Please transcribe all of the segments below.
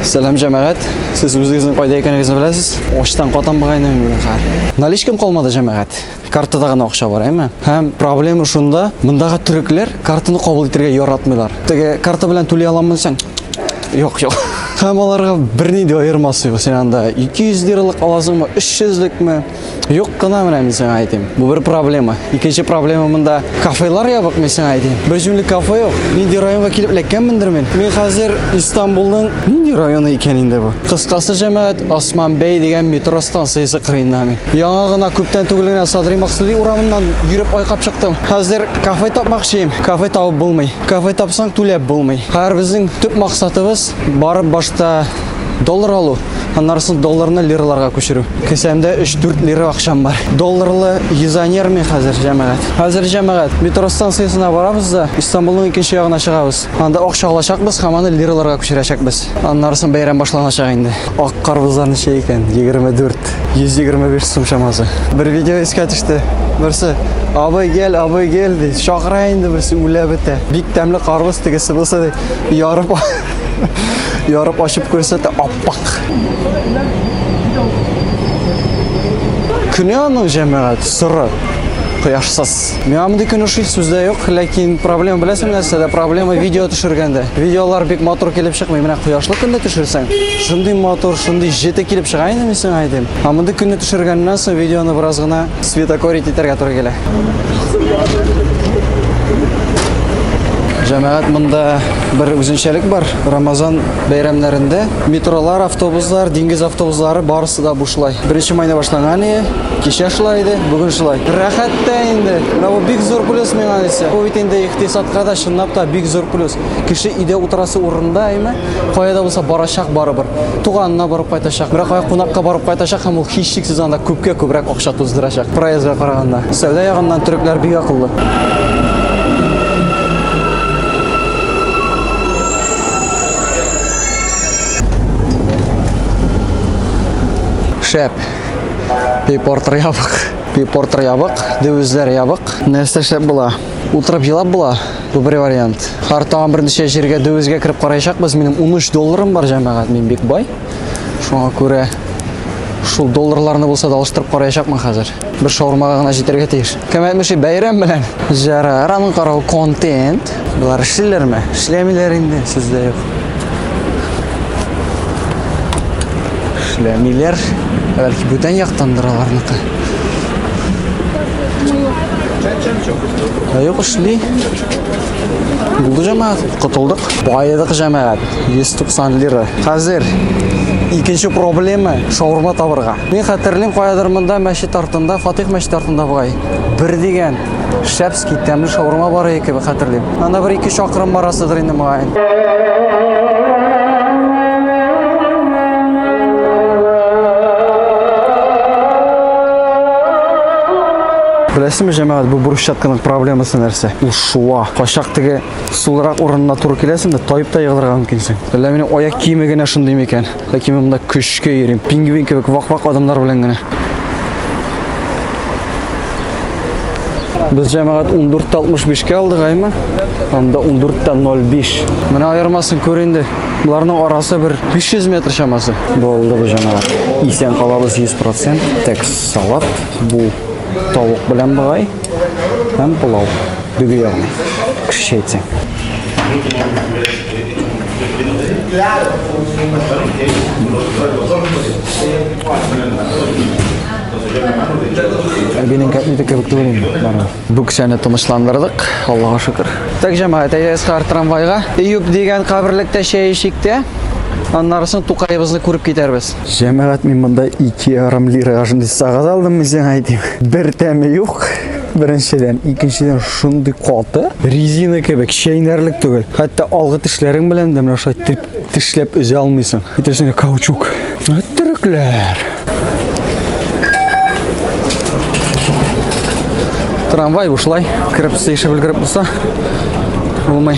Сәлам җәмәгать. Сез үзегезнең кайда икәнегезне беләсез? Очтан катам бугайны мин хәр. Наличкам калмады җәмәгать. Картада гына акча бар, әйме? Һәм проблема шунда, мондагы төрекләр картаны кабул итәргә яратмыйлар. Теге карта белән түли аламмы сен? Юк, юк. Һәм аларга берни дә аермасы юк. Син анда 200 лиралык аласыңмы, 300 лекме? Юк кына менә мин сиңа әйтим. Бу бер проблема. Икенче проблема монда кафелар ябык, мин сиңа әйтим. Бер җүнле кафе юк. Нинди районга килеп эләккәнмендер мин. Мин хәзер Истанбулның нинди районы икән инде бу? Кыскасы җәмәгать Осман бәй дигән метро станциясе кырыенда мин. Яңа гына күптән түгел генә Садри Максуди урамыннан йөреп айкап чыктым. Хәзер кафе тапмакчыйм. Кафе табып булмый. Кафе тапсаң түләп булмый. Хәзер безнең төп максатыбыз барып башта Доллар алу, аннары соң долларны лираларга күчерү. Кесәмдә 3-4 лира акчам бар. Долларлы юзанер мин хәзер, җәмәгать. Хәзер җәмәгать, метро станциясенә барабыз да Истанбулның икенче ягына чыгабыз. Анда акча алачакбыз һәм аны лираларга күчерәчәкбез. Аннары соң бәйрәм башланачак инде. Ак карбызлар ничә икән? 24. 125 сум чамасы. Бер видео искә төште. Берсе, абый гел, абый гел, ди. Чакыра инде берсе үлә бетә. Бик тәмле карбыз тегесе булса, ди, ярып Ярып ачып күрсәтә аппак. Көне аның җәмәгать соры кояшсыз. Миңа мондый көне шул сүздә юк, ләкин проблема беләсең нәрсә дә проблема видео төшергәндә. Видеолар бик матур килеп чыкмый. Менә кояшлы көндә төшерсәң, шундый матур, шундый җете килеп чыга инде мин сиңа әйтим. Ә мондый көне төшергәннән соң видеоны бераз гына Светокорить итәргә туры килә. Җәмәгать монда бер үзенчәлек бар. Рамазан бәйрәмнәрендә метролар, автобуслар, диңгез автобуслары барысы да бушлай. Беренче майда башланган иде, кичә шулай иде, бүген шулай. Рәхәт тә инде. Менә бу бик зур плюс миңа дисә. Бу бит инде икътисадка да чынлап та бик зур плюс. Кеше өйдә утырасы урында, әйме? Кая да булса барачак барыбер. Туганына барып кайтачак. Бирок кая кунакка барып кайтачак һәм ул һичшиксез анда күпкә күбрәк акча туздырачак. Проездга караганда. Сәүдә ягыннан төрекләр бик акыллы. Шәп. Пейпортер ябык. Пейпортер ябык, девизләр ябык. Нәрсә шәп була? Утырып елап була. Добрый вариант. Хар тагын берничә җиргә дөвезгә кереп караячакбыз. Минем 13 долларым бар, җәмәгать, мин бик бай. Шуңа күрә шул долларларны булса да алыштырып караячакмын хәзер. Бер шаурмага гына җитәргә тиеш. Кем әйтмешли, бәйрәм белән. Җара, рамын карау контент. Болар эшлиләрме? Эшләмиләр инде, сездә юк. Эшләмиләр. Бәлки бүтән яктандыр аларныкы. Юк эшли. Булды җәмәгать, котылдык. Байыдык җәмәгать, 190 лира. Хәзер икенче проблема шаурма табырга. Мин хәтерлим, каядыр монда мәчет артында, Фатих мәчет артында бугай. Бер дигән шәпский тәмле шаурма бар икән, хәтерлим. Анда бер ике чакрым барасыдыр инде мөгаен. Беләсезме, җәмәгать, бу брусчатканың проблемасы нәрсә? Ул шуа. Качак теге сулырак урынына туры киләсең дә, тайып та егылырга мөмкинсең. Әллә минем аяк киеме генә шундый микән? Ләкин мин монда көчкә йөрим. Пингвин кебек вак-вак адамнар белән генә. Без җәмәгать 14.65-кә алдык, әйме? Анда 14.05. Менә аермасын күр инде. Боларның арасы бер 500 метр чамасы. Булды бу җәмәгать. Исән калабыз 100%. Текс салат. Бу тавык белән быгай. Һәм пылау. Дөге ягына. Кешечә әйтсәң. Әбинең кәтлите кебек түгел инде. Бары. Бу кешене тынычландырдык, Аллага шөкер. Так, җәмәгать, әйдәгез кар трамвайга. Июб дигән каберлектә чәй эчик тә, аннарысын Тукаебызны күреп китәрбез. Җәмәгать, мин монда 2 ярым лирага шундый сагыз алдым, мин сиңа әйтим. Бер тәме юк. Беренчедән, икенчедән шундый каты, резина кебек чәйнәрлек түгел. Хәтта алгы тешләрең белән дә менә шулай теп тешләп өзә алмыйсың. Әйтерсең каучук. Төрекләр. Трамвай бушлай, кереп сыйшып өлгереп булса, булмый.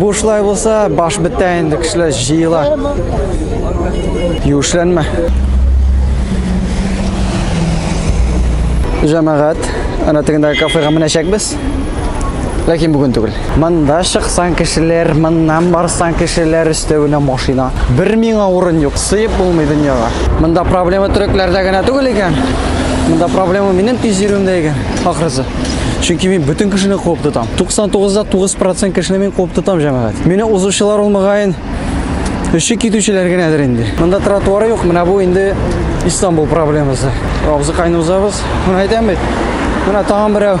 Бушлай булса, баш бетә инде, кешеләр җыела. Юшләнмә. Җәмәгать, ана тегендәге кафега менәчәкбез. Ләкин бүген түгел. Монда чыксаң кешеләр, моннан барсаң кешеләр өстәвенә машина. Бер миңа урын юк, сыеп булмый дөньяга. Монда проблема төрекләрдә генә түгел икән. Монда проблема минем тиз йөрүемдә икән, ахрысы. Чөнки мин бөтен кешене куып тотам. 99-да 9% кешене мин куып тотам, җәмәгать. Мине узучылар ул мөгаен өче китүчеләр генәдер инде. Монда тротуары юк, менә бу инде Истанбул проблемасы. Абзыкайны узабыз. Менә әйтәм бит. Менә тагын берәү.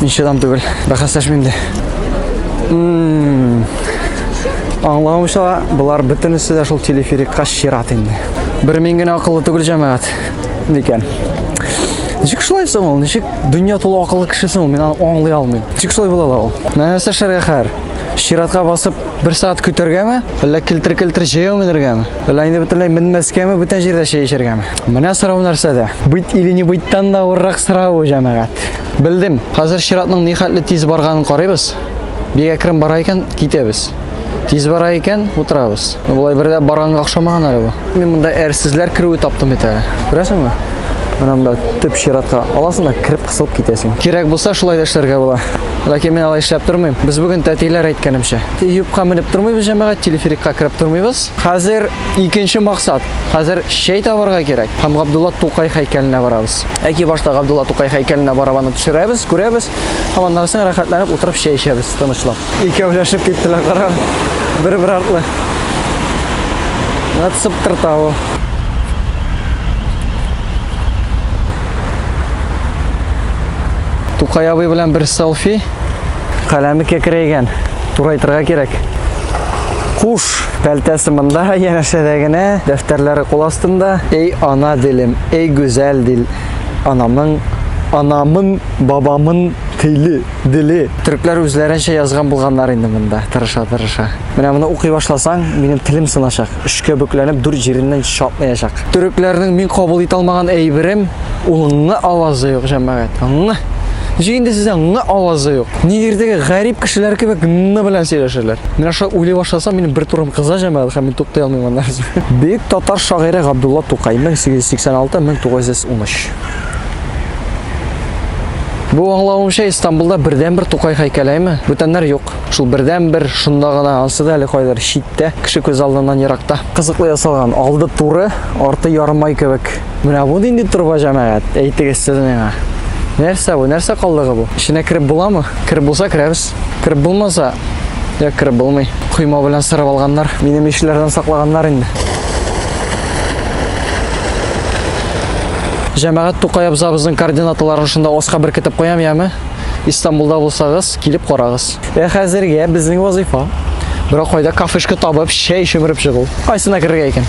Мин чыдам түгел. Бәхәсләшмим дә. Аңлавымча, болар бөтенесе дә шул телеферикка чират инде. Бер мин генә акыллы түгел җәмәгать. Микән. Ничек шулай соң ул? Ничек дөнья тулы акыллы кеше соң ул? Мин аны аңлый алмыйм. Ничек шулай була ала ул? Менә нәрсә эшләргә хәер? Чиратка басып, бер сәгать көтәргәме? Әллә килтер-килтер җәяү менергәме? Әллә инде бөтенләй менмәскәме, бүтән җирдә чәй эчәргәме? Менә сорау нәрсәдә? Бит или не биттан да авыррак сорау ул җәмәгать. Белдем. Хәзер чиратның нихәтле тиз барганын карыйбыз. Бик әкрен бара икән, китәбез. Тиз бара икән, утырабыз. Болай бердә барганга охшамаган әле бу. Мин монда әрсезләр керүе таптым бит әле. Күрәсеңме? Менә монда төп чиратка аласың да кереп кысылып китәсең. Кирәк булса шулай да эшләргә була. Ләкин мин алай эшләп тормыйм. Без бүген тәтиләр әйткәнемчә. Юбка менеп тормыйбыз җәмәгать, телеферикка кереп тормыйбыз. Хәзер икенче максат. Хәзер чәй табарга кирәк. Һәм Габдулла Тукай һәйкәленә барабыз. Әки башта Габдулла Тукай һәйкәленә барабаны төшерәбез, күрәбез, һәм аннан соң рәхәтләнеп утырып чәй эчәбез, тынычлап. Икәүләшеп киттеләр, кара, бер-бер артлы. Нәт сыптырта ул. Тукай абый белән бер селфи. Каләме кәкрәйгән. Турайтырга кирәк. Куш. Пәлтәсе монда, янәшәдә генә, дәфтәрләре кул астында. Эй, ана дилем, эй, гүзәл дил. Анамның, анамын, бабамын тиле, диле. Төркләр үзләренчә язган булганнар инде монда, тырыша, тырыша. Менә моны укый башласаң, минем телем сыначак. Өчкә бөкләнеп, дүрт җиреннән чатмаячак. Төрекләрнең мин кабул итә алмаган әйберем, ул ңы авазы юк, җәмәгать. Ңы. Ничек инде сездә ңы авазы юк? Нигердәге гарип кешеләр кебек ны белән сөйләшәләр. Менә шулай уйлый башласам, минем бер турым кыза җәмәгать һәм мин туктай алмыйм аннан. Бөек татар шагыйре Габдулла Тукай 1886-1913. Бу аңлавымча Истанбулда бердәнбер Тукай һәйкәлеме? Бүтәннәр юк. Шул бердәнбер шунда гына, ансы да әле кайдыр читтә, кеше күз алдыннан еракта. Кызыклы ясалган, алды туры, арты ярымай кебек. Менә бу нинди торба җәмәгать? Әйтегез сез миңа. Нәрсә бу? Нәрсә калдыгы бу? Эченә кереп буламы? Кереп булса керәбез. Кереп булмаса, я кереп булмый. Койма белән сырып алганнар. Минем ишләрдән саклаганнар инде. Җәмәгать Тукай абзабызның координаталарын шунда оска беркетеп куям, яме? Истанбулда булсагыз, килеп карагыз. Ә хәзергә безнең вазыйфа берәр кайда кафешка табып, чәй чөмереп чыгу. Кайсына керергә икән?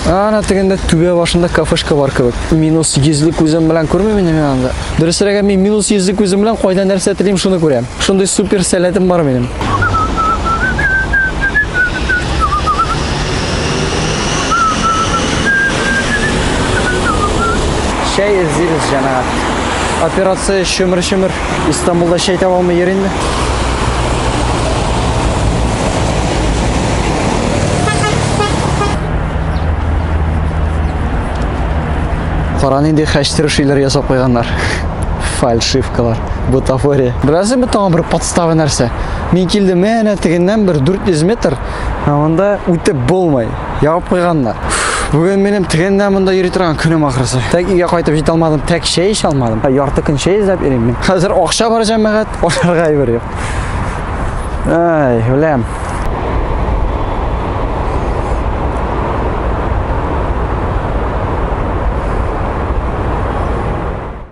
Ана тегендә түбә башында кафешка бар кебек. Минус 100 күзем белән күрмим инде мин анда. Дөресрәге мин минус 100 күзем белән кайда нәрсә телим, шуны күрәм. Шундый супер сәләтем бар минем. Чәй эзлибез, җәмәгать. операция чөмер-чөмер. Истанбулда чәй таба алмый йөр инде. Кара нинди хәчтер шиләр ясап куйганнар. Фальшивкалар, бутафория. Бераз бу тагын бер подстава нәрсә. Мин килдем, әнә тегеннән бер 400 метр, ә монда үтеп булмый. Ябып куйганнар. Бүген минем тегендә монда йөри торган көнем ахрысы. Тәк өйгә кайтып җитә алмадым, тәк чәй эчә алмадым. Ярты көн чәй эзләп йөрим мин. Хәзер акча бар җәмәгать, ашарга әйбер юк. Ай, үләм.